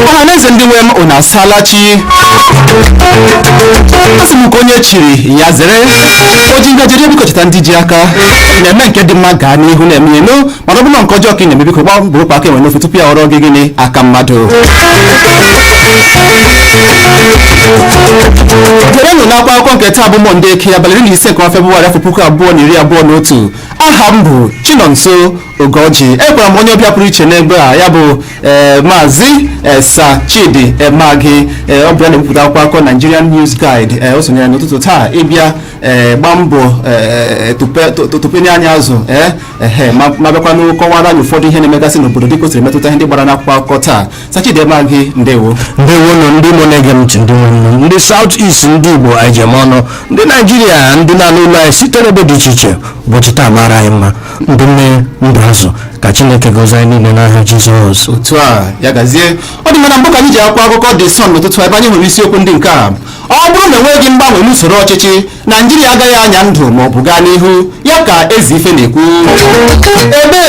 ọhaneze ndị nwe m unu asaala chi asị m ka onye chiri ya zere o ji ngaji eri biko cheta ndị ji aka ị na-eme nke dị mma gaa n'ihu na-eme ya nụ mana ọ bụrụ na nke ọjọọ ka ị na-eme biko gbaa mbọ wopụ aka enwe n'ofe tupu ya aghọrọ gị gịnị aka mmadụ gerenụ nkọwa akwụkwọ nke taa bụ mọnde eke abalị iri na ise nke ọnwa febụwarị afọ puku abụọ na iri abụọ na otu aha m bụ chinonso ugoji enwekwara m onye ọbịa pụrụ iche n'ebe a ya bụ eh, maazị eh, sir chidi emeagi ọ bụ ya na-ebipụta akwụkwọ akụkọ nigerian news guide eh, o sonyere n'ụtụtụ taa ịbịa ee gbaa mbọ ee tụpenye anyị azụ ee ehe ma ma bịakwanụ kọwaara anyị ụfọdụ ihe na-emegasị n'obodo dịka o siri metụta ihe ndị gbara n'akwụkwọ akụkọ taa Sir Chidi Emeagi ndewo ndewonụ ndị Igbo na-ege m ntị ndị nwanne m ndị South East ndị Igbo anyị ji eme ọnụ ndị Naijiria ndị na-anụ olu anyị site n'ebe dị iche iche ụbọchị taa mara anyị mma ndụ mmiri ndụ azụ ka Chineke gọzie anyị niile n'aha Jizọs otu a ya gazie ọ dị mma na mbụ ka anyị ji akwụkwọ akụkọ The Sun n'ụtụtụ ebe anyị hụrụ isiokwu ndị nke a ọ bụrụ na enweghị mgbanwe n'usoro ọchịchị naijiria agaghị anya ndụ ma ọ bụ gaa n'ihu ya ka ezeife na-ekwu ebe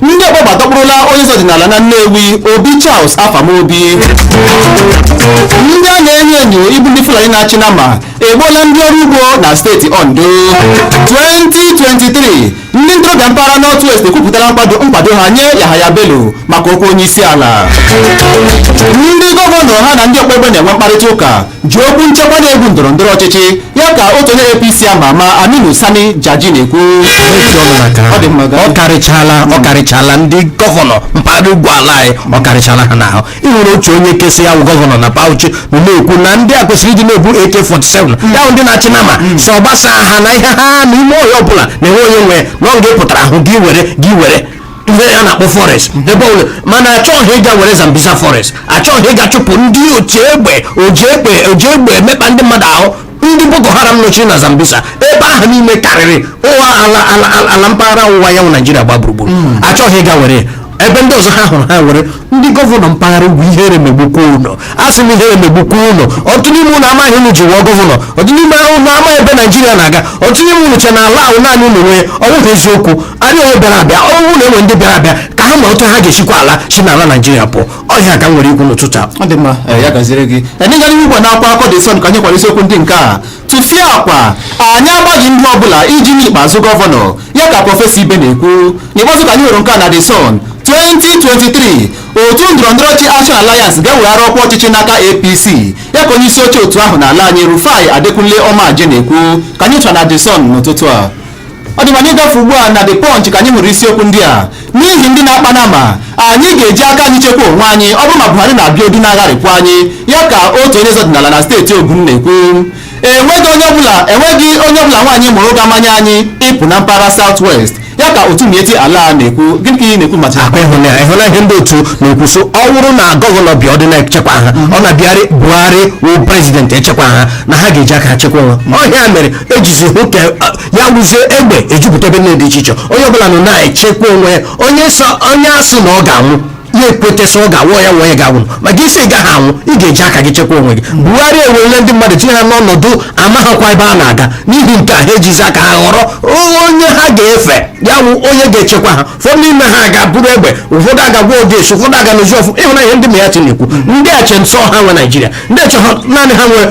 ndị ọgba egbe dọkpụrụla onye eze ọdịnala na nnewi obi charles afam obi ndị a na-enyo enyo ịbụ ndị fulani na-achị nama egbuola ndị ọrụ ugbo na steeti ondo 2023 Ndị ntorobịa mpaghara North West ekwupụtala nkwado nkwado ha nye Yahaya Bello maka okwu onye isi ala. Ndị gọvanọ ha na ndị ọgba egbe na-enwe mkparịta ụka ji okwu nchekwa na-egwu ndọrọ ndọrọ ọchịchị ya ka otu onye APC ama ama Aminu Sani Jaji na-ekwu. Ọ dị mma, gaa. ọ karịchala ọ karịchala ndị gọvanọ mpaghara ugwu ala anyị ọ karịchala ha n'ahụ ị nwere otu onye nke sị ya bụ gọvanọ na Bauchi nọ na-ekwu na ndị a kwesịrị ịdị na-ebu AK47 ya bụ ndị na-achị nama sọ gbasa ha na ihe ha na ime ọhịa ọbụla na enwe onye nwe ya na nga ị pụtara ahụ gị were gị were ihe a na-akpọ forest ebe ọbụla mana achọghị ịga were Zambisa forest achọghị ịga chụpụ ndị otu egbe oji egbe oji egbe emekpa ndị mmadụ ahụ ndị boko haram nọchiri na zambisa ebe ahụ niile karịrị ụwa ala ala ala- ala mpaghara ọwụwa anyanwụ naijiria gba gburugburu achọghị ịga were ya. ebe ndị ọzọ ha hụrụ ha were ndị gọvanọ mpaghara ugwu ihere megbukwa unu asị m ihere megbukwa unu ọtụtụ n'ime unu amaghị ihe unu ji wụọ gọvanọ ọtụtụ n'ime unu ama ebe naijiria na-aga ọtụtụ n'ime unu che na ala a wụ naanị unu nwe ọ wụghị eziokwu ọ dịghị onye bịara abịa ọ wụ na e nwe ndị bịara abịa ka ha ma otu ha ga-esikwa ala si n'ala naijiria pụọ ọ ihe a ka m nwere ikwu n'ụtụtụ a ọ dị mma ee, ya gaziere gị anyị gara n'ihu ugbu a n'akwụkwọ akụkọ The Sun ka anyị hụkwara isiokwu ndị nke a tufiakwa anyị agbaghị ndụ ọbụla iji nye Ikpeazu gọvanọ ya ka prọfesọ ibe na-ekwu n'ikpeazụ ka anyị hụrụ nke a na The Sun 2023 otu ndọrọndọrọ ọchịchị Action Alliance ga-eweghara ọkwa ọchịchị n'aka APC ya ka onye isi oche otu ahụ n'ala anyị Rufai Adekunle Ọmaje na-ekwu ka anyị chọtara na The Sun n'ụtụtụ a ọ dị mma anyị gafe ugbu a na The Punch ka anyị hụrụ isiokwu ndị a n'ihi ndị na-akpa nnama anyị ga-eji aka anyị chekwa onwe anyị ọ bụrụ ma Buhari na Abiodun agharịpụ anyị ya ka otu onye eze ọdịnala na steeti Ogun na-ekwu enweghị onye ọbụla nwaanyị mụrụ ga-amanye anyị ịpụ na mpaghara South West ya ka otu Miyetti Allah na-ekwu gịnị ka ị na-ekwu maka akpa ịhụna ịhụna ihe ndị otu na-ekwu sị ọ bụrụ na gọvanọ Abiodun echekwa ha ọ na-abịarị buhari wụ prezidenti echekwa ha na ha ga-eji aka ha chekwa onwe ha ọ ihe a mere ejizi hụ ka ya wụzie egbe ejupụta ebe niile dị iche iche onye ọbụla nọ na-echekwa onwe ya onye sọ onye asị na ọ ga-anwụ ya ekweta sị ọ ga-awụ ya nwa ya ga-anwụ ma gị sị ị gaghị anwụ ị ga-eji aka gị chekwa onwe gị Buhari ewerele ndị mmadụ tinye ha n'ọnọdụ amaghịkwa ebe a na-aga n'ihi nke a ha ejizi aka ha họrọ onye ha ga-efe ya wụ onye ga-echekwa ha ụfọdụ n'ime ha gaa buru egbe ụfọdụ agaa gwọọ odeshi ụfọdụ aga n'ozi ọfụ ịhụna ihe ndị Miyetti na-ekwu ndị a che na sọ ha nwe naijiria ndị a che na naanị ha nwe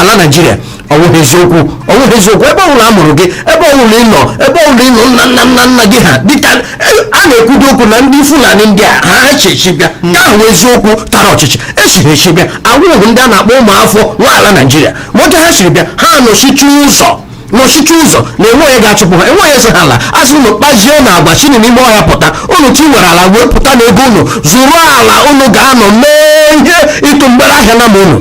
ala naijiria ọwụghị eziokwu ọwụghị eziokwu ebe ọbụla a mụrụ gị ebe ọbụla ị nọ ebe ọbụla ị nọ nna nna nna nna gị ha dịka e, a na-ekwudo okwu na ndị fulani ndị a ha echichi bịa ka ahụ eziokwu tara ọchịchị echiri echi bịa awụghị ndị a na-akpọ ụmụafọ nwe ala naijiria ma otu ha siri bịa ha nọchichi ụzọ nọchichi ụzọ na enwe onye ga-achụpụ ha enwe onye sị ha laa a sị unu kpazie nụ agwa si nụ n'ime ọhịa pụta unu chọọ inwere ala wepụta nụ ego unu zụrụ ala unu ga-anọ mee ihe ịtụ mgbere ahịa nnama unu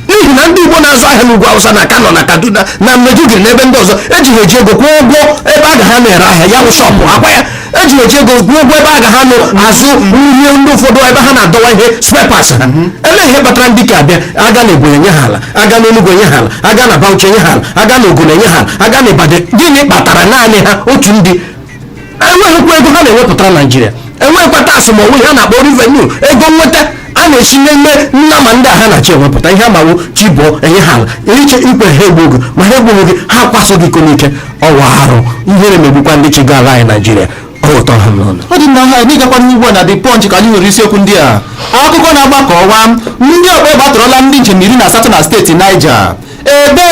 n'ihi na ndị igbo na-azụ ahịa n'ugwu awụsa na kano na kaduna na Maiduguri na ebe ndị ọzọ eji ha eji ego kwụọ ụgwọ ebe aga ha anọ ere ahịa ya bụ shọpụ akwa ya eji eji ego kwụọ ụgwọ ebe aga ha anọ azụ ihe ndị ụfọdụ ebe ha na-adọwa ihe spare parts ha olee ihe kpatara ndị nke a bịa aga na ebonyi enye ha ala aga na enugwu enye ha ala aga na bauchi enye ha ala aga na ogun enye ha ala aga na ibadan gịnị kpatara naanị ha otu ndị enweghịkwa ego ha na-ewepụtara naijiria enweghịkwa tax ma ọ wụ ihe a na-akpọ revenue ego nweta a na-esi n'ime nnama ndị a ha na-achị ewepụta ihe ha ma wụ chi bọọ enye ha ala iche ikwe ha egbuo gị ma ha egbughị gị ha kwaso gị iko n'ike ọ wụ arụ ihere megbukwa ndị chịga ala anyị naijiria ọ ụtọ ha n'ọnụ ọ dị mma ka anyị gakwa n'ihu ugbu a na the punch ka anyị nwere isiokwu ndị a akụkọ na-agba ka ọwa ndị ọgba egbe atọrọla ndị njem iri na asatọ na steeti Niger ebe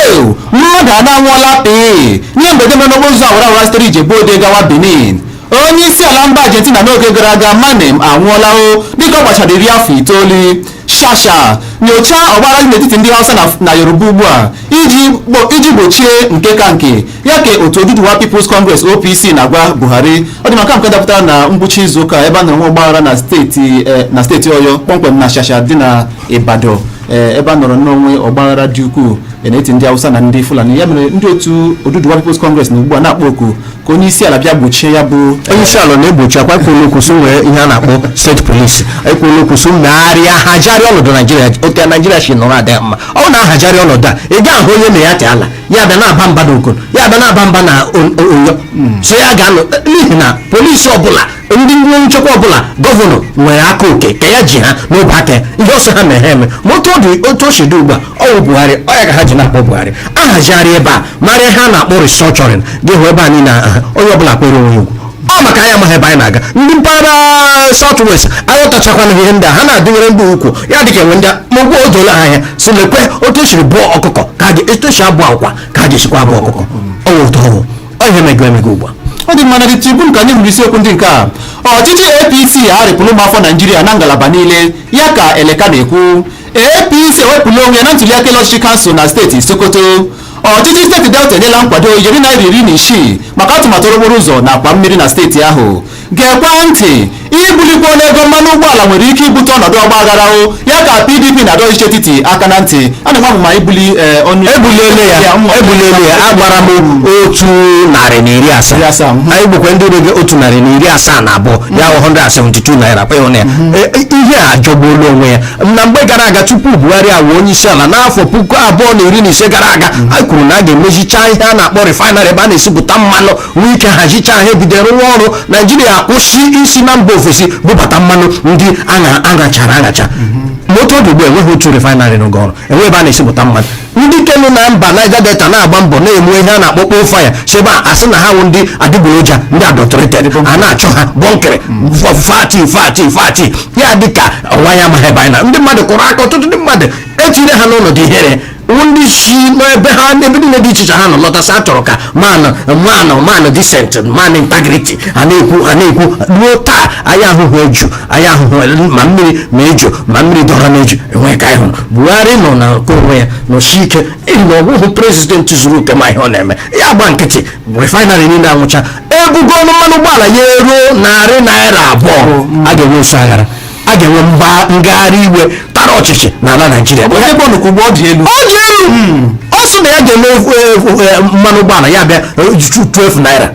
mmadụ anọ anwụọla pịị n'ihe mberede mere n'okporo ụzọ awara awara sitere Ijebu Ode gawa Benin onye isi ala mba argentina n'oge gara aga menem anwụọla o dịka ọ gbachara iri afọ itoolu shasha nyochaa ọgbaghara dị n'etiti ndị hausa na- na yoruba ugbu a iji gbo- iji gbochie nke ka nke ya ka otu oduduwa peoples congress opc na-agwa buhari ọ dị maka nke dapụtara na ngwụcha izu ụka ebe a na-enwe ọgbaghara na steeti eh, na steeti oyo kpọmkwem na shasha dị na ibadan eh, ebe a nọrọ nwee ọgbaghara dị ukwuu eh, n'etiti ndị hausa na ndị fulani ya mere ndị otu oduduwa peoples congress na ugbu a na-akpọ oku ka onye isi ala bịa gbochie ya bụ onye isi ala na-egbochi akwa ekwuola okwu sị nwee ihe a na-akpọ state police ekwuola okwu sị megharịa hazigharịa ọnọdụ naijiria otu naijiria si nọrọ adịghị mma ọ bụrụ na a hazigharịa ọnọdụ a ị ga-ahụ onye miyetti allah ya bịa na-aba mba na ogun ya bịa na-aba mba na oyo sị ya ga-anọ n'ihi na polisi ọbụla ndị nchekwa ọbụla gọvanọ nwere aka oke ka ya ji ha n'ọbọ aka ya ihe ọ sị ha mee ha emee ma otu ọ dị otu o si dị ugbu a ọ bụ buhari ọ ya ka ha ji na-akpọ buhari a hazigharị ebe a mere ihe a na-akpọ restructuring gị hụ ebe a niile aha onye ọbụla kpere onwe ya ugwu ọ maka anyị amaghị ebe anyị na-aga ndị mpaghara south west aghọtachakwana ihe ndị a ha na-adịnyere ndị ugwu ya dị ka enwe ndị a ma ugbu o doola ha anya sị lekwe otu esiri bọọ ọkụkọ ka a ga- etu esi abọ ọkwa ka a ga-esikwa abọ ọkụkọ ọ wụ ụtọ ọhụụ Ọ ihe megoro emego ugbu a. Ọ dị mma na The Tribune ka anyị hụrụ isiokwu ndị nke a. Ọchịchị APC agharịpụla ụmụafọ Naijiria na ngalaba niile ya ka Eleka na-ekwu. APC ewepụla onwe ya na ntuliaka elu ọchịchị kansụl na steeti Sokoto. Ọchịchị steeti Delta enyela nkwado ijeri naira iri na isii maka atụmatụ okporo ụzọ na akwa mmiri na steeti ahụ. Gekwaa ntị! Ibulikwu ọnụ ego mmanụ ụgbọala nwere ike ibute ọnọdụ ọgbaghara o ya ka PDP na-adọ ọchịchị etiti aka na ntị a na-enwe amụma ibuli eh, ọnụ ebuliele ya ebuliele ya agbara m otu narị na iri asaa anyị bụkwa ndị rege otu narị na iri asaa na abụọ ya bụ 172 naira kwa ị hụna ya E- e- ihe a jọgbuola onwe ya na mgbe gara aga tupu buhari awụ onye isi ala n'afọ puku abụọ na iri na ise gara aga anyị kwuru na a ga-emezicha ihe a na-akpọ refinery ebe a na-esipụta mmanụ nwee ike hazicha ha ebido rụwa ọrụ naijiria kwụsị isi na mba ofesi bubata mmanụ ndị a nụchara anụcha ma otu ọ dị ugbu enweghị otu refinery rụge ọrụ enweghị ebe a na-esipụta mmanụ ndị ke nọ na mba Niger Delta na-agba mbọ na-eme ihe a na-akpọ kpo fire si ebe a a sị na ha wụ ndị adịgboroja ndị adulterated a na-achụ ha bọnkịrị fati fati fati ya dịka ọnwa ya amaghị ebe anyị na ndị mmadụ kụrụ aka ọtụtụ ndị mmadụ etinyere ha n'ọnọdụ ihere ndị si n'ebe ha ebe niile dị iche iche ha nọ lọta sị a chọrọ ka man man man decent man integrity a na-ekwu a na-ekwu ruo taa anyị ahụhụ eju anyị ahụhụ ma mmiri ma eju ma mmiri dọrọ n'eju enweghị ke anyị hụrụ buhari nọ na nke onwe ya nọsi ike ịhụ na ọ wụhụ prezidenti zuru oke ma ihe ọ na-eme ya gba nkịtị refinery niile anwụcha ebugo ọnụ mmanụ ụgbọala ya eruo narị naira abụọ a ga-enwe nso aghara a ga-enwe ngagharị iwe tara ọchịchị n'ala naijiria ọ dị elu ọ sị na ya ga-eme mmanụ ụgbọala ya bịa 12 naira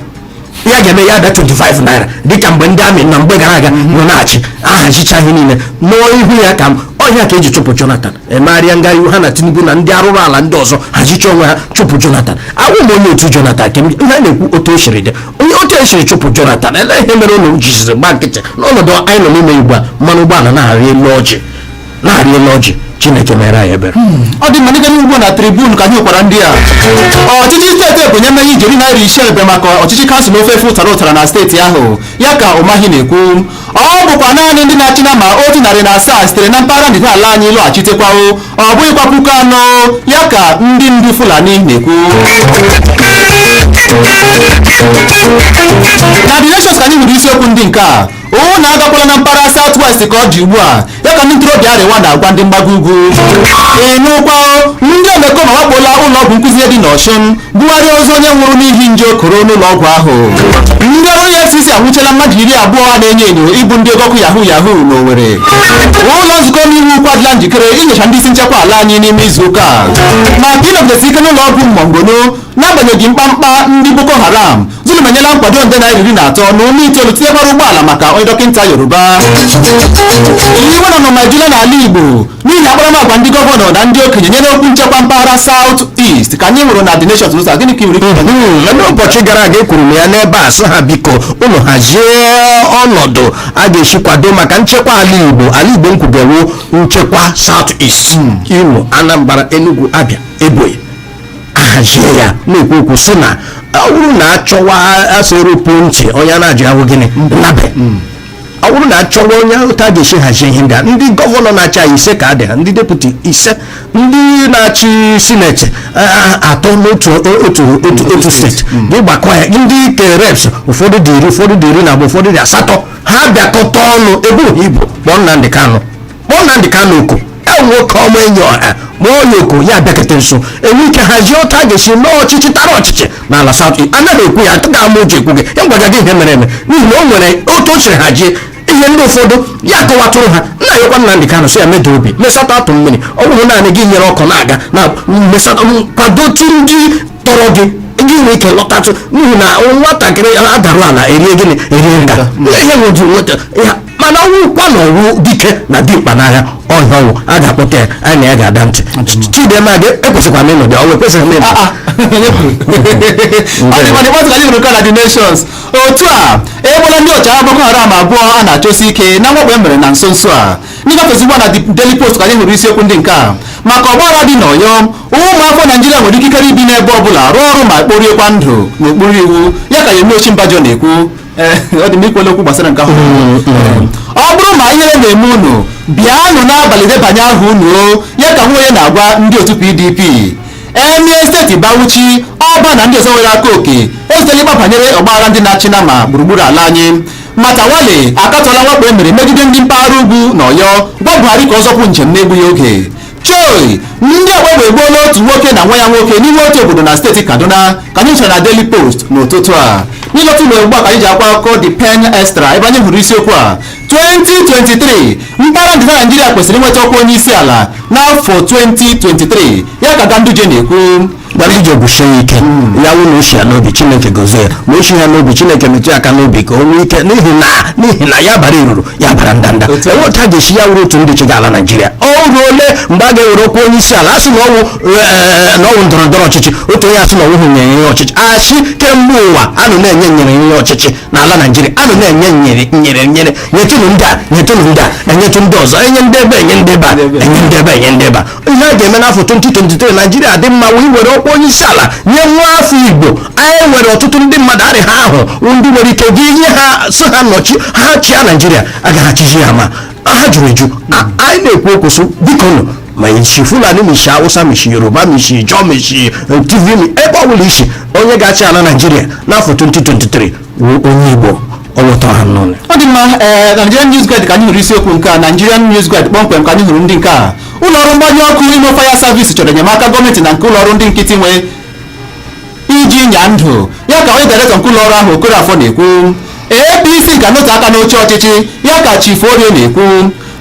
ya ga-eme ya bịa 25 naira dịka mgbe ndị amị na mgbe gara aga nọ na-achị ahazicha ihe niile nụọ ihu ya ka ọ ihe a ka eji chụpụ jonathan emegharịa ngagharị iwe ha na tinubu na ndị arụrụ ala ndị ọzọ hazicha onwe ha chụpụ jonathan awụ m onye otu jonathan ke ihe na-ekwu otu o siri dị onye otu esiri chụpụ jonathan ele ihe mere unu jiziri gba nkịtị n'ọnọdụ anyị nọ n'ime ugbu a mmanụ ụgbọala na-arị elu ọjị na-arị elu ọjị chineke mere anyị ebere hmm. ọ dị mma n'ịgara ugbo na tribune ka anyị nwekwara ndị a ọchịchị steeti ebonyi emeghị ijeri naira ise ebe maka ọchịchị kansụl ofe efe ụtara ụtara na steeti ahụ ya ka umahi na-ekwu ọ bụkwa naanị ndị na-achị nama otu narị na asaa sitere na mpaghara ndịda ala anyị lọghachitekwawo ọ bụghịkwa puku anọ ya ka ndị ndu Fulani na-ekwu na The Nations ka anyị hụrụ isiokwu ndị nke a unu agakwala na mpaghara South West ka ọ dị ugbu a ya ka ndị ntorobịa Arewa na-agwa ndị mgbago ugwu ị nụkwa ndị omekome awakpola ụlọ ọgwụ nkụzi dị n'Ọshụn bugharịa ozu onye nwụrụ n'ihi nje koro n'ụlọ ọgwụ ahụ ndị ọrụ efcc anwụchiela mmadụ iri abụọ a na-enyo enyo ịbụ ndị ọgọkụ yahoo yahoo n'Owerri ụlọ nzukọ omeiwu ukwu adịla njikere inyocha ndị isi nchekwa ala anyị n'ime izu ụka a. maka ịnọgidesi ike n'ụlọ ọgwụ Monguno n'agbanyeghị mkpamkpa ndị boko haram Zulum enyela nkwado nde naira iri na atọ na ụma itoolu tinyekwara ụgbọala maka onye dọkịta Yoruba iwe na ọnụma ejula n'ala Igbo n'ihi akparamagwa ndị gọvanọ na ndị okenye nyere okwu nchekwa mpaghara South East ka anyị hụrụ na The Nation News gịnị ka i nwere ikwu mana ụbọchị gara aga ekwuru m ya n'ebe a sị ha biko unu hazie ọnọdụ a ga-esi kwado maka nchekwa ala Igbo ala Igbo nkwubewo nchekwa South East Imo Anambra Enugu Abia Ebonyi ahazie ya na-ekwu okwu sị na ọ bụrụ na achọwa asị eropu ntị onye a na-ajụ ahụ gịnị nnabe ọ bụrụ na achọwa onye ahụ otu a ga-esi hazie ihe ndị a ndị gọvanọ na-achị anyị ise ka ha dị ha ndị deputi ise ndị na-achị sineti a- a- atọ n'otu otu otu otu steeti gị gbakọ ya ndị ke reps ụfọdụ dị iri ụfọdụ dị iri na abụọ ụfọdụ dị asatọ ha bịakọta ọnụ ebe ohi bụ kpọọ Nnamdị Kanụ kpọọ Nnamdi Kanu oku e nwoke ọma enyi ọha kpọọ ya oku ya abịakete nso enwe ike hazie otu a ga-esi mee ọchịchị tara ọchịchị n'ala South East anaghị ekwu ya atụghị ama uche ekwu gị ya gwaga gị ihe mere eme n'ihi na o nwere otu o siri hazie ihe ndị ụfọdụ ya kọwatụrụ ha nna ya kwa Nnamdi Kanu sị ya meda obi mesata atụ mmiri ọ bụrụ naanị gị nyere ọkụ na-aga na mesata kwadotu ndị tọrọ gị ndị nwere ike lọtatụ n'ihi na nwatakịrị adarụ ala erie gịnị erie nga ihe nwụjụ nweta ya mana ọ wụkwa na ọ wụ dike na dimkpa n'agha ọhịa ọ wụ a ga-akpọta ya anyị na ya ga-ada ntị chidema gị ekwesịkwa na ịnọdụ ọ wụ ekwesịghị na ịnọdụ otu a egbuola ndị ọchịagha boko haram abụọ a na-achọsi ike na mwakpo e mere na nso nso a n'ịgafe ozigbo na Daily Post ka anyị hụrụ isiokwu ndị nke a maka ọgbaghara dị n'Ọyọ ụmụafọ Naijiria nwere ikikere ibi n'ebe ọ bụla rụọ ọrụ ma kporiekwa ndụ n'okpuru iwu ya ka Yemi Osinbajo na-ekwu ọ dị m ikwele okwu gbasara nke ahụ mm, mm. ọ bụrụ ma ihere na-eme unu bịanụ n'abalị debanye aha unu ya ka Nwoye na-agwa ndị otu PDP emir steeti Bauchi ọba na ndị ọzọ nwere aka oke ezutela ịkpa banyere ọgbaghara ndị na-achị nama gburugburu ala anyị Matawalle akatọla mwakpo e mere megide ndị mpaghara ugwu na ọyọ gwa Buhari ka ọ zọpụ njem na-egbughị oge choi ndị ọgba egbe egbuola otu nwoke na nwa ya nwoke n'ime otu obodo na steeti kaduna ka anyị nchara na daily post n'ụtụtụ a n'ịlọta ụlọ ugbu a ka anyị ji akwụkwọ akụkọ the pen extra ebe anyị hụrụ isiokwu a 2023 mpaghara ndịda naijiria kwesịrị inweta ọkwa onye isi ala n'afọ 2023 ya ka ganduje na-ekwu Ganduje kwusie ya ike ya wụ na o shi ya n'obi chineke gozie ya ma o shi ya n'obi chineke metụ ya aka n'obi ka o nwee ike n'ihi na n'ihi na ya bara iruru ya bara ndanda Otu a. enwe otu a ga-esi ya wụrụ otu ndị chịga ala naijiria o ruole mgbe a ga-ewere ọkwa onye isi ala asị na ọwụ ee, na ọwụ ndọrọ ndọrọ ọchịchị otu onye asị na ọwụhụ nyere ihe ọchịchị asị kemgbe ụwa a nọ na-enye nyere ihe ọchịchị n'ala naijiria a nọ na-enye nyere nyere nyere nyetụnụ ndị a nyetụnụ ndị a enyetụ ndị ọzọ enye ndị ebe enye ndị ebe a enye ndị ebe enye ndị ebe a ihe a ga-eme n'afọ 2023 naijiria dị mma wee were ọkwa onye isi ala nye nwa afọ igbo anyị nwere ọtụtụ ndị mmadụ arị ha ahụ ndị nwere ike gị ihe ha so ha nọchi ha chịa naijiria agaghị achịji ya ma ha juru eju anyị na-ekwu okwu so biko nụ ma i si fulani ma i si awụsa ma i si yoruba ma i si ijaw ma i si eh, tiv ma ebe ọ bụla i si onye ga-achị ala naijiria n'afọ 2023 wụ onye igbo ọlọtọ ha n'ụlọ ọ dị mma ee Nigerian News Guide ka anyị hụrụ isiokwu nke a Nigerian News Guide kpọmkwem ka anyị hụrụ ndị nke a ụlọọrụ mgbanyụ ọkụ imo fire service chọrọ enyemaka gọọmenti na nke ụlọọrụ ndị nkịtị nwe iji nya ndụ ya ka onye dairektọ nke ụlọọrụ ahụ okorafọ na-ekwu apc ga-anọte aka n'oche ọchịchị ya ka chief orie na-ekwu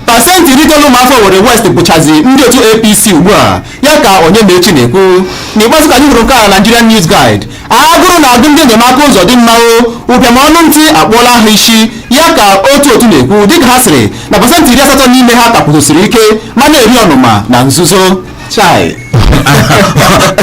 pasentị iri itoolu ụmụafọ owerri west bụchazi ndị otu apc ugbu a ya ka onyemaechi na-ekwu n'ikpeazụ ka anyị hụrụ nke a na nigerian news guide agụrụ na-agụ ndị enyemaka Uzodinma o ụbịam ọnụ ntụ akpụọla ha isi ya ka otu otu na-ekwu dịka ha sịrị na pasentị iri asatọ n'ime ha ka kwụsiri ike ma na-eri ọnụma na nzuzo chai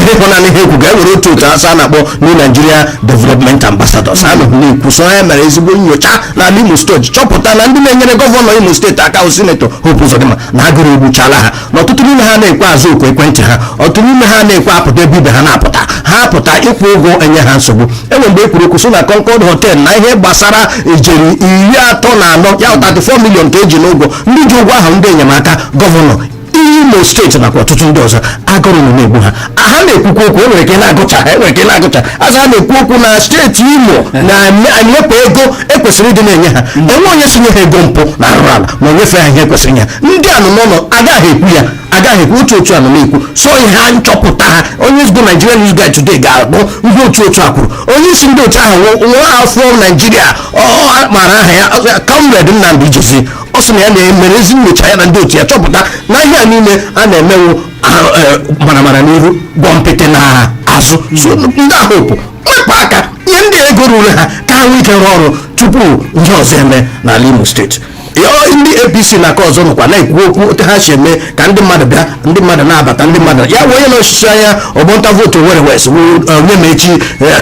ị hụna ihe ha ekwuga e nwere otu otu a sị a na-akpọ New Nigeria Development Ambassadors a nọhụ na-ekwu so ha mere ezigbo nyocha n'ala Imo steeti chọpụta na ndị na-enyere gọvanọ Imo steeti aka bụ sinetọ Hope Uzodinma na agụrụ egbuchala ha na ọtụtụ n'ime ha na-ekwe aza oku ekwentị ha ọtụtụ n'ime ha na-ekwe apụta ebe ibe ha na-apụta ha apụta ịkwụ ụgwọ enye ha nsogbu enwe mgbe e kwuru okwu so na Concord Hotel na ihe gbasara ijeri iri atọ na anọ ya 34 million ka eji n'ụgwọ ndị ji ụgwọ ahụ ndị enyemaka gọvanọ Imo steeti nakwa ọtụtụ ndị ọzọ agụrụ na-egbu ha ha na-ekwukwa okwu enwere ike na-agụcha ha enwere ike na-agụcha aza ha na-ekwu okwu na steeti imo na-enyepụ ego ekwesịrị ịdị na-enye ha mm. enwe onye si nye ha ego mpụ na arụrụ ala ma onyefe ha ihe ekwesịrị nye ha ndị anụ n'ụlọ agaghị ekwu ya agaghị ekwu otu otu anụ na-ekwu so ihe a nchọpụta ha onye ezigbo Nigerian News Guide Today ga-akpọ ndị otu otu a kwuru onye isi ndị otu ahụ nwa afọ naijiria ọ mara aha ya Comrade Nnamdi Ijezie ọ sị na ya na-emere ezi nyocha ya na ndị otu ya chọpụta na ihe a niile a na-eme wụ maramara n'ihu gwọmpịtị n'azụ ndị ahụ wepụ aka nye ndị ego ruru ha ka ha nwee ike rụọ ọrụ tupu ihe ọzọ emee n'ala imo steeti ndị apc n'aka ọzọ nọkwa na-ekwu okwu otu ha si eme ka ndị mmadụ bịa ndị mmadụ na-abata ndị mmadụ ya wee onye na-anọchite anya ọgbọ ntụ vootu owere west Onyemaechi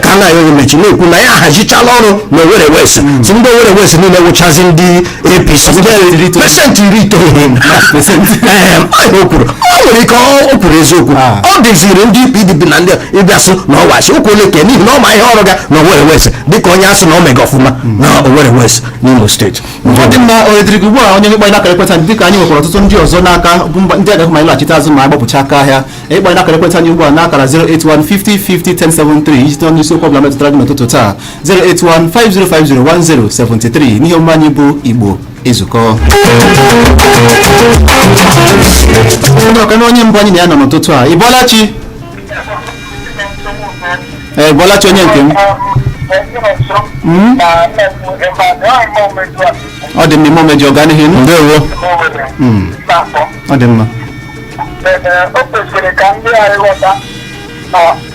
Kanayo Onyemaechi na-ekwu na ya ahazichala ọrụ na owere west sị ndị owere west niile wụchazi ndị APC pesentị iri itoolu o kwuru o nwere ike o kwuru eziokwu ah. ọ dịziri ndị PDP na ndị ịbịa sị na ọ wụ asị o kwuole ka n'ihi na ọ ma ihe ọ rụga na Owerri West dịka onye a sị na o mega ọfụma hmm. na Owerri West n'Imo steeti ọ dị mma ohere dịrị gị ugbu a onye ịkpọ anyị n'akara ekwentị anyị dịka anyị nwekwara ọtụtụ ndị ọzọ n'aka bụ ndị agaghị ma ịlaghachite azụ ma agbapụcha aka ahịa ịkpọ anyị n'akara ekwentị anyị ugbu a n'akara 08150501073 iji tụọ n'isiokwu ọbụla metụtara gị n'ụtụtụ taa 08150501073 n'ihe omume anyị bụ igbo ezukọ onye ọka na onye mbụ anyị na ya nọ n'ụtụtụ a ị bọọla chi ee bọọla chi onye nke m Mm. ọ dị mma ime omejọ gaa n'ihu nụ ndewo Mm. ọ dị mma o kwesịrị ka ndị anyị ghọta na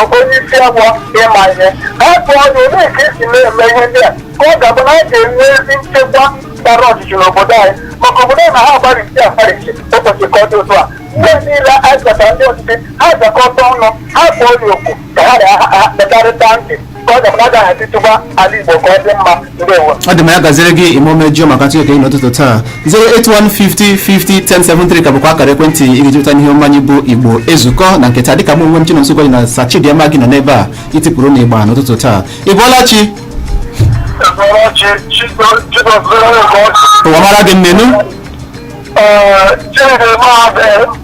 onye isi awọ ịma ihe ha jụọ ya olee ka e si na-eme ihe ndị a ka ọ ga-abụ na a ga-enwe ezi nchekwa gbara ọchịchị n'obodo anyị maka obodo na ha agbarịchi agbarịchi ụbọchị ka ọ dị otu a ndị niile anyị gwatara ndị ọchịchị ha zukọta ọnụ ha kpọọ ya oku ka ha na-akpọkarịta ntị ka ọ ga-abụ na agaghị atịtụba ala igbo ka ọ dị mma ndewo ọ dị ma ya gaziri gị ime omejio maka ntụnye nke gị n'ụtụtụ taa 08150501073 ka bụkwa akara ekwentị ị ga-eji pụta n'ihe omume anyị bụ igbo ezukọ na nke taa dịka mụ onwe m chinonso gwaji na sachidịama gị nọ n'ebe a itipụrụ na ịgba n'ụtụtụ taa ị bọọla chi ọchị chidozere ụwa mara gị nnenu Ee, Chineke maazị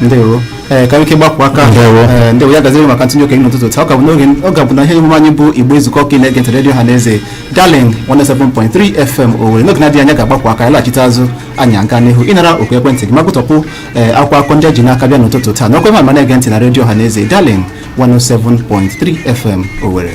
ndewo ee ka ike gbapụ aka ee ndewo ya gaziri maka ntụnye okenye n'ụtụtụ taa ọ ga-abụ n'oge ọ ga-abụ na ihe emume anyị bụ Igbo nzukọ ka ị na-ege ntị redio ọha na eze Darling 107.3 FM Owerri n'oge na-adịghị anya ga-agbakwa aka a laghachite azụ anyị aga n'ihu ịnara oku ekwentị gị ma gụtọpụ ee akwụkwọ akụkọ ndị e ji n'aka bịa n'ụtụtụ taa nọkwa mma ma na-ege ntị na redio ọha na eze Darling 107.3 FM Owerri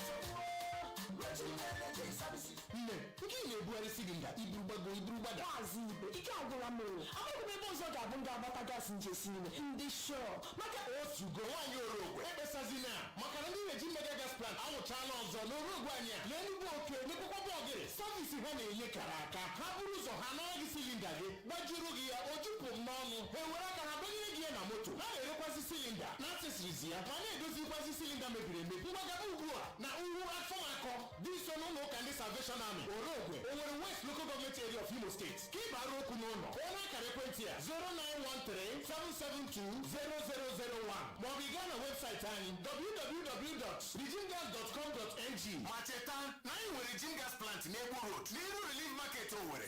na-ebugharị silinda i buru gbago i buru gbada Maazị Ibe ike agwụla m o amaghị m ebe ọzọ ga-abụ ndị agbata gaasị m ji esi nri ndị shọ maka o zugo nwaanyị orogwe ekpesazina maka na ndị regime mega gas plant awụchaala ọzọ na orogwe anyị a na enugbu oke mekwakwa bọgịrị savisi ha na-enye kara aka ha buru ụzọ ha ana gị silinda gị gbajuru gị ya o jupụ m n'ọnụ ha ewere aka ha dọnyere gị ya na moto ha na-erekwazi silinda na accessories ya ma na-edozikwazi silinda mebiri emebi ngwa gaba ugbu a na uhu afọ akọ dị nso n'ụlọ ụka ndị salvation army orogwe owere west local government area of imo state ka ị bara okwu n'ụlọ kpọọ n'akara ekwentị a 09137720001 maọbụ ị gaa na webụsaịtị anyị www.regimegas.com.ng ma cheta na anyị nwere regime gas plant n'egbu road n'iru relief market owere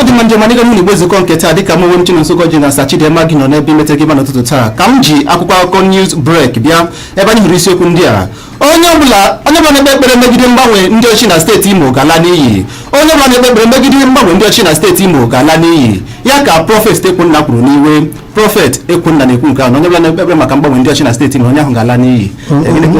ọ dị mma ndị ọma n'ịga n'ụlọ igbo nzukọ nke taa dịka mụ onwe m Chinonso ji na Sachidimma gị nọ n'ebe imeta gị mma n'ụtụtụ taa ka m ji akwụkwọ akụkọ news break bịa ebe anyị hụrụ isiokwu ndị a onye ọbụla onye ọbụla na-ekpe ekpere megide mgbanwe ndị ọchị na steeti imo ga-ala n'iyi onye ọbụla na-ekpe ekpere megide mgbanwe ndị ọchị na steeti imo ga-ala n'iyi ya ka prọfet ekwunna kwuru n'iwe prọfet ekwunna na-ekwu nke ahụ na onye ọbụla na-ekpe ekpere maka mgbanwe ndị ọchị na steeti imo onye ahụ ga-ala n'iyi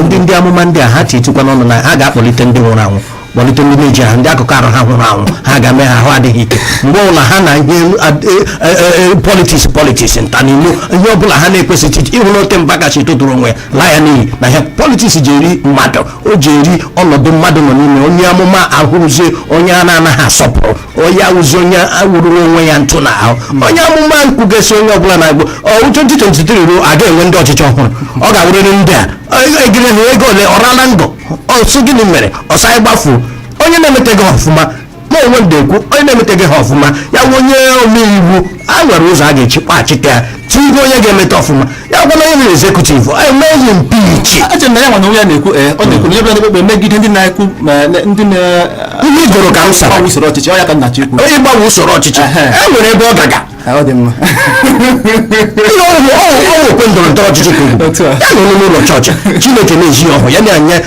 ndị ndị amụma ndị a ha titukwa n'ọnụ na ha ga-akpọlite ndị nwụrụ anwụ kpọlite ndị na-ejighị ahụ ndị akụkụ arụ ha nwụrụ anwụ ha ga-eme ha ahụ adịghị ike mgbe ọbụla ha na ihe elu- ad- e- e- e- e- politiks politiks nta na ilu ihe ọbụla ha na-ekwesịghị iche ịhụ na oke mba kacha etotụrụ onwe ya laa ya n'iyi na ihe politiks ji eri mmadụ o ji eri ọnọdụ mmadụ nọ n'ime onye amụma awụrụzie onye a na-anaghị asọpụrụ onye awụzi onye awụrụrụ onwe ya ntụ na ahụ onye amụma nkwugasị onye ọbụla na-agụ ọwụ 2023 ruo a ga-enwe ndị ọchịchị ọhụrụ ọ ga-awụrịrị ndị a egirehụ ego ole ọrala ngo ọsụ gịnị mere ọsọ anyị gbafuo onye na-emeteghị ha ọfụma ma o nwee ndị na-ekwu onye na-emeteghị ha ọfụma ya wụ onye omeiwu e nwere ụzọ a ga-eji kpachite ya tinye onye ga-emeta ọfụma ya wụ na onye mere ezekutiv emee ya impeach eche na ya nwa na onye a na-ekwu ee ọ na-ekwu na onye bịara n'ekpekpe megide ndị na-ekwu ma na- ndị na ihe igoro ka m sara gbanwe usoro ọchịchị ọ ya ka Nnachi ekwu ịgbanwe usoro ọchịchị Ehe. e nwere ebe ọ gaga ọ dị mma Ihe ọ bụ- ọ bụ- ọ bụ okwe ndọrọ ndọrọ ọchịchị ka ọ wụ. Otu a. ya na onye n'ụlọ chọọchị chineke na-eji ya ọhụ ya na anya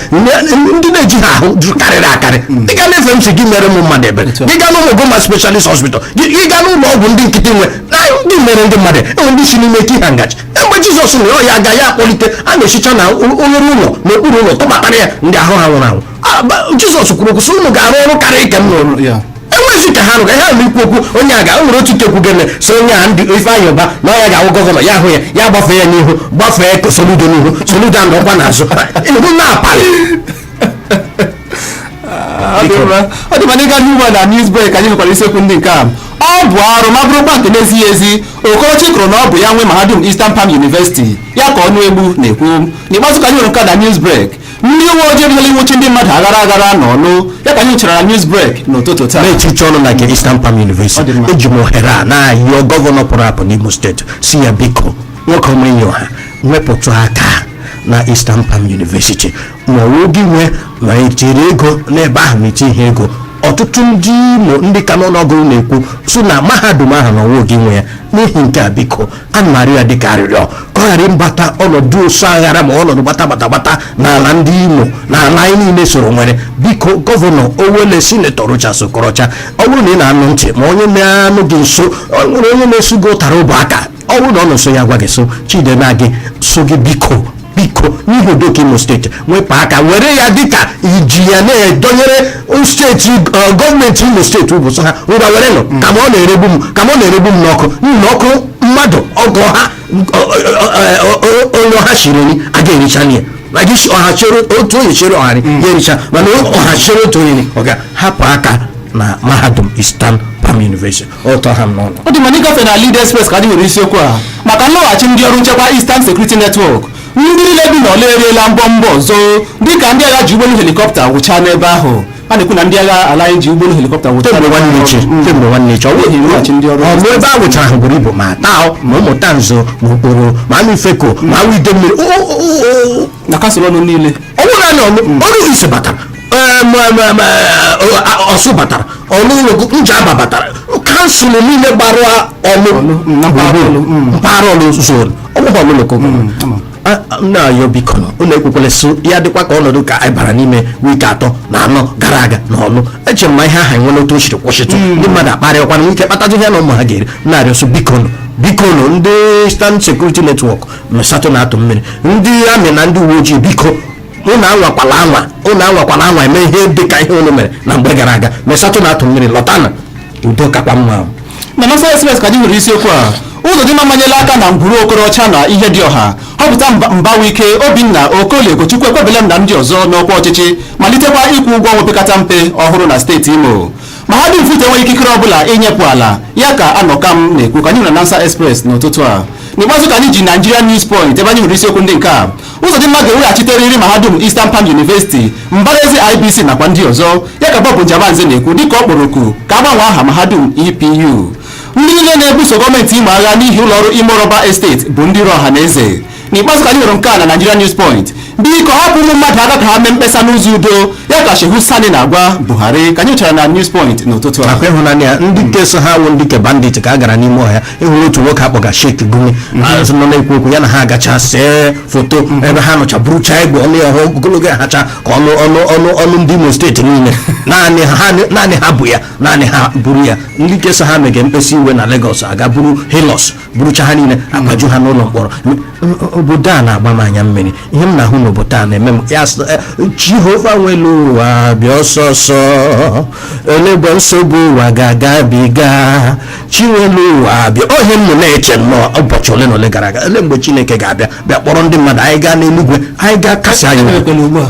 ndị na-eji ha ahụ jụ karịrị akarị gị gaa na FMC gị mere ụmụ mmadụ ebere Otu a. gị gaa n'Umuguma specialist hospital gị gị gaa n'ụlọ ọgwụ ndị nkịtị nwe na ndị mere ndị mmadụ enwe ndị si n'ime ike ha ngaji mgbe jizọs nwere ọya aga ya akpọlite a na-esicha na o- oghere ụlọ n'okpuru ụlọ tụbatara ya ndị ahụ ha nwụrụ anwụ Ah, ba- jizọs kwuru okwu sị unu ga-arụ ọrụ karịa nke m n'ụlọ ya enwezi ka ha nụrụ ha nụrụ ikwu okwu onye a ga o nwere otu nke kwugo na so onye a ndị Ifeanyi Uba na ọ ya ga-awụ gọvanọ ya hụ ya ya gbafee ya n'ihu gbafee Soludo n'ihu Soludo anọkwa n'azụ ihu na-apalị ọ dị mma ọ dị mma anyị gaa n'ugbu a na news break anyị nwekwara isiokwu ndị nke a ọ bụ arụ ma bụrụkwa nke na-ezighị ezi Okorocha ikwu na ọ bụ ya nwe mahadum Eastern Palm University ya ka Ọnụegbu na-ekwu n'ikpeazụ ka anyị nwere nke a na news break ndị uwe ojii ebidola ịnwụchi ndị mmadụ aghara aghara n'Ọlụ ya ka anyị nwetara na news break n'ụtụtụ taa na echiche unu na nke Eastern Palm University Ọ dị mma. eji m ohere a na-ayọ gọvanọ pụrụ apụ n'Imo steeti sị ya biko nwoke ọma enyi ọha wepụtụ aka na Eastern Palm University ma ọ wụ gị nwe ma i tiri ego n'ebe ahụ ma i tighị ego ọtụtụ ndị Imo ndị ka n'ọnụọgụgụ na-ekwu so na mahadum ahụ na ọ wụghị gị nwe ya n'ihi nke a biko ana m arịọ ya dịka arịrịọ ka ọ ghara ịbata ọnọdụ ọsụ aghara ma ọnọdụ gbata gbata gbata n'ala ndị imo na ala anyị niile soro nwere biko gọvanọ owele sinetọ rochas okorocha ọ bụrụ na ị na-anụ ntị ma onye na-anọ gị nso ọ nwere onye na-esu gị ụtara ụbụ aka ọ bụrụ na ọ nọ nso ya gwa gị so Chidịmma gị so gị biko biko n'ihi udo nke imo steeti wepụ aka were ya dịka iji ya na-edonyere steeti eh, gọọmenti imo steeti ụbụ so ha ngwa werenụ mm. kama ọ na-eregbu m kama ọ na-eregbu m n'ọkụ n'ihi na ọkụ mmadụ ọgụ ha onye ọha shiri nri agaghị ericha ya maka isi ọha chere otu onye chere ọha mm. ya ericha mana ọha chere otu onye ọ ga hapụ aka na mahadum Eastern Palm University ụtọ ha m n'ọnụ ọ dị mma anyị gafee na Lead Express ka anyị nwere isiokwu a maka nlọghachi ndị ọrụ nchekwa Eastern Security Network ndị niile bi n'Ọlụ eriela mbọmbọ ọsọ dịka ndị agha ji ụgbọelu helikọpta wụchaa n'ebe ahụ a na-ekwu na ndị agha ala anyị ji ụgbọelu helikọpta wụchaa kemgbe n'ebe nwanne ahụ. echi Mm. kemgbe nwanne echi ọ N'ihi bụghị nlọghachi ndị ọrụ ọ bụ ebe a wụchara ahụ buru ibu ma Atta ma Umutanze ma Okporo ma Amaifeke ma Awo Idemili O- o- o- o- na kansụl ọlụ niile ọ wụ naanị ọlụ oru east batara ọsụ batara ọlụ njaba batara kansụl niile gbara ọlụ mpaghara ọlụ zon ọ wụ ọlụ lokal na-ayọ bikonụ ụnụ ekwekwele so ya dịkwa ka ọnọdụ ka anyị bara n'ime wiiki atọ na anọ gara aga na ọlụ eche m ma ihe aha enwere otu o siri kwụsịtụ ndị mmadụ akparịakwana ike kpatazi ihe na ụmụ ha ga-eri na-arịọ so bikonụ bikonụ ndị eastern security network mesatụ na-atụ mmiri ndị amị na ndị uwe ojii biko ụnụ anwakwala anwa ụnụ anwakwala anwa eme ihe dị ka ihe ụnụ mere na mgbe gara aga mesatụ na-atụ mmiri lota na udo kakwa mma na announcer express ka anyị nwere isiokwu a ụzọdịmma amanyela aka na ngwuru okorocha na ihedịọha họpụta mba- mbawuike obinna okolie ugochukwu ekwebelem na ndị ọzọ n'ọkwa ọchịchị malitekwa ịkwụ ụgwọ ọnwa opekata mpe ọhụrụ na steeti imo mahadum futo enweghị ikikere ọbụla inyepụ ala ya ka anọkam na-ekwu ka anyị hụrụ na announcer express n'ụtụtụ a n'ikpeazụ ka anyị ji nigeria news point ebe anyị hụrụ isiokwu ndị nke a ụzọdịmma ga-eweghachitere mahadum eastern palm university mbara ezi ibc nakwa ndị ọzọ ya ka bob njemanze na-ekwu dịka ọ kpọrọ oku ka a gbanwee aha mahadum epu ndị niile na-ebuso gọọmenti imo agha n'ihi ụlọọrụ imo rọba esteti bụ ndị iro ọha na eze n'ikpeazụ ka anyị hụrụ nke a na Nigeria News Point biko hapụ ụmụ mmadụ aka ka ha mee mkpesa n'ụzọ udo ya ka Shehu Sani na-agwa Buhari ka anyị chọrọ na News Point n'ụtụtụ a akwa ị hụna ya ndị nke so ha wụ ndị ke bandit ka a gara n'ime ọhịa ị hụrụ otu nwoke a kpọga Sheikh Gumi ahụ nọ na-ekwu okwu ya na ha agacha see foto ebe ha nọcha burucha egbe ọnụ ya ha ogologo ya hacha ka ọnụ ọnụ ọnụ ọnụ ndị Imo steeti niile naanị ha ha- naanị ha bu ya naanị ha buru ya ndị nke so ha mege mkpesa iwe na Lagos agaa buru Hilux burucha ha niile agbaju ha n'ụlọ mkpọrọ obodo a na-agba m anya mmiri ihe m na-ahụ n'obodo a na-eme m ya sị, "Eh, jehova nwelu ụwa bịa ọsọ ọsọ ele mgbe nsogbu ụwa ga-agabiga chi nwelu ụwa bịa ọ ihe m nọ na-eche nnọọ ụbọchị ole na ole gara aga ele mgbe chineke ga-abịa bịa kpọrọ ndị mmadụ anyị gaa n'eluigwe anyị gaa kasie anyị obi. Emekwela ugbu a.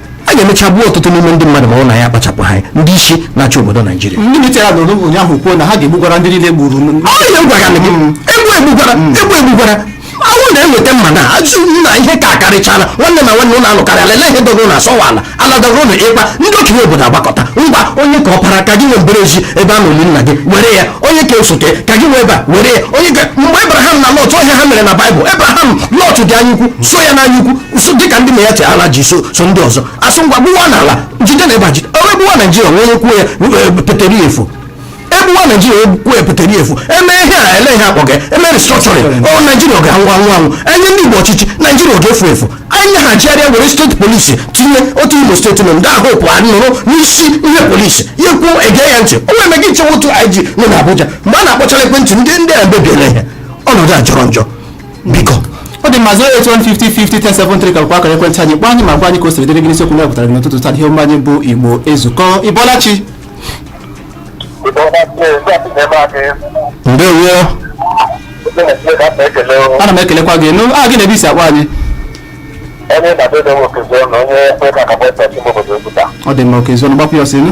a ga-emecha gbuo ọtụtụ n'ime ndị mmadụ ma ọ na ya akpachapụ anya ndị isi na-achị obodo naijiria ndị military a nọrọ ụnyaahụ kwuo na ha ga-egbugwara ndị niile gburu m. ọ ihe m gwara gị egbu egbugwara egbu egbugwara awụ na-eweta mma na ajụ nna ihe ka akarịchala nwanne na nwanne ụlọ alụkarịala ele ihe dọgoro na asọwala ala dọgoro na ịkpa ndị okenye obodo agbakọta ngwa onye ka ọpara ka gị nwee mbara ezi ebe a na oli nna gị were ya onye ka osote ka gị nwee ebe a were ya onye ka mgbe ebraham na lọt ọ ihe ha mere na baịbụl ebraham lọt dị anya ukwu so ya n'anya ukwu so dịka ndị na-eche ala ji so so ndị ọzọ asị ngwa gbuwa n'ala jide na ebe a jide ọrụ egbuwa naijiria nwee onye kwuo ya e, peteri efu egbuwa naijiria onye kwuo ya peteri efu eme ihe a ele ihe a kpọga eme restructuring ọ naijiria ọ ga-anwụ anwụ anwụ enye ndị igbo ọchịchị naijiria ọ ga-efu efu ahazigharịa were steeti polisi tinye otu imo steeti nọ ndị ahụ pụọ nụrụ n'isi ihe polisi ya kwuo ege ya ntị o nwere gị nchewa otu ig nọ n'abuja mgbe a na-akpọchara ekwentị ndị ndị a mebiela ihe ọnọdụ a jọrọ njọ biko ọ dị mma 08150501073 ka bụkwa akara ekwentị anyị kpọọ anyị ma gwa anyị ka o siri dịrị gị n'isiokwu na pụtara gị n'ụtụtụ taa ihe omume anyị bụ igbo ezukọ ị bọọla chi ndewo ana m ekelekwa gị nụ aha gị na ebe i si akpọ anyị onye na-adịdo nwoke zụọ na onye kwe ka akabọ ịtọ ọchị obodo ebuta ọ dị mma okezuọnụ gbapụ ya ọsọ ịnụ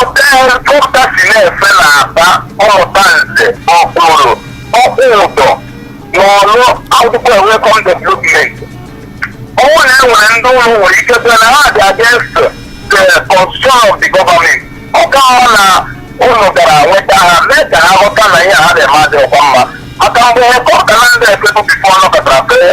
Ọkụkọ si na-efe na-aba ọmụta nze ọkpụrụ ọkpụ ụdọ na ọrụ ọ bụkwa welcome development ọ bụ na e nwere ndị ụlọ nwere ike bịa na ha dị against the constitution of the government ọ ka mma na unu gara nweta ha mee ka ha ghọta na ihe ha na-eme adịghịkwa mma maka mgbe ọkọka na ndị efebu before ọ nọkatara fee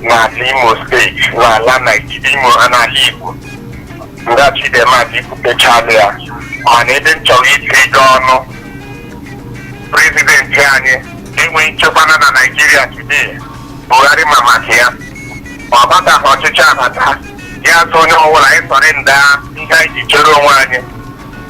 n'ala imo steeti n'ala naijiria imo n'ala igbo ngwa chidimma ị kwupechala ya mana ebe m chọrọ itiga ọnụ prezidenti anyị enweghị nchekwa na na naijiria today buhari ma maka ya ọ bataghị ọchịchị abata ya sị onye ọbụla anyị surrender ihe anyị ji chere onwe anyị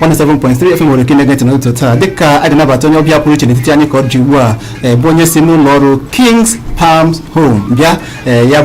107.3 FM nwere ike na-ege ntị n'ụtụtụ taa dịka a ga-anabata onye ọbịa pụrụ iche n'etiti anyị ka ọ dị ugbu a eh, bụ onye si n'ụlọ ọrụ Kings Palms Home bịa eh, ya